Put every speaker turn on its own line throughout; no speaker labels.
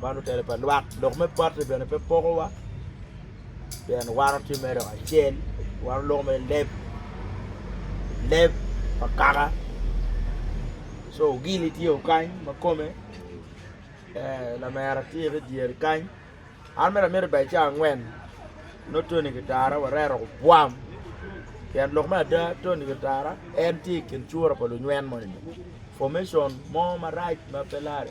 Man otel pa lwak dok me bati bene pe pokowa pien wan watye mere dok acel wan oloko mere leb leb pa kaka co ogini tye o kany ma kome lamera tye ki idyere kany an mere amiti bai cawa angwen nongo Tony kitara wareto gubwam pien lok me ada Tony kitara en tye i kin cura pa lunywem moni formation mo marac ma pe lare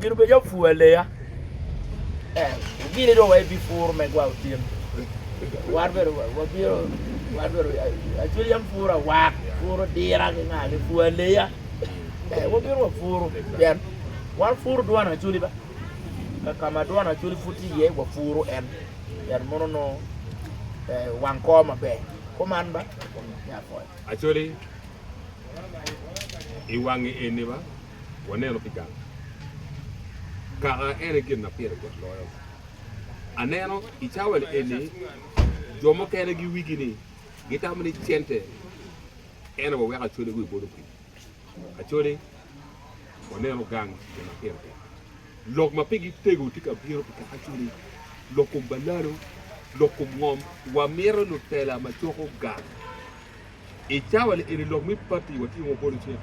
Gin obedo calo pur aleya. Gini dong wa ibi pur me gwa otyeno. Wan bene wabino, wan bene acwil yam pur awak, pur odira ki nga, pur aleya. Wabino wa pur pien wan pur dwan acwili ba. Ka ma dwan acwili pud tye iye wa pur en pien mono nongo wang kor maber. Kuman ba. Acwili
i wangi eni ba. Waneno pi gang kaka en aye gin ma pire tek loyo. Aneno i cawa-ni eni jo mukene giwigi ni gitamo ni cente en aye waweko acode wiye bot opii. Acode waneno gang gin ma pire tek. Lok ma pigi tego tye ka bino pi kaka acode, lok kom balalo, lok kom ngom. Wamito lutela ma coko gang. I cawa-ni eni lok me pati watye ma wabolo cik,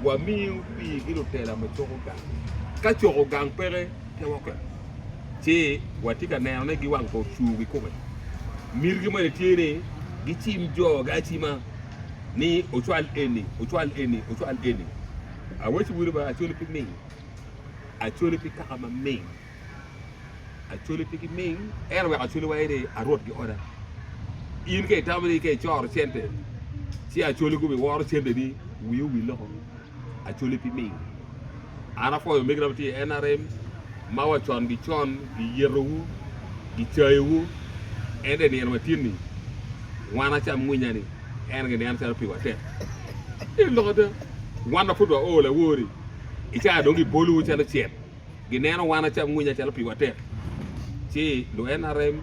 wamiyo pigi lutela ma coko gang. Ka coko gang peke kewokke, ci watye ka neno ni giwang pa ocur kikome. Mitigi moni tye ni gicim jogi acima ni ocwal eni, ocwal eni, ocwal eni. Awaco wunu ba, acwali pi ming, acwali pi kaka ma ming. Acwali pe giming, ento wek acwali wa aye ni arwot gioda. In ka itamo ni ka icoro cente, ci acwali gubi woro cente ni wii owil loko. Acwali pe ming. An apwoyo omegina matye i NRM, ma wa con gi con giyeto wu, gicayo wu, ento i nino matye ni, wan acam mwinya ni, en gineno calo pi wa tek. Elo ada, wan ma pud wa oo lawori, i caa dong gibolo wu calo cet. Gineno wan acamwinya calo piwa tek, ci lu NRM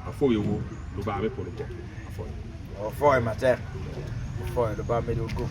apwoyowu, Lubanga me polo
gwok apwoyowu. Wapwoyo matek,
wapwoyo
Lubanga medo gup.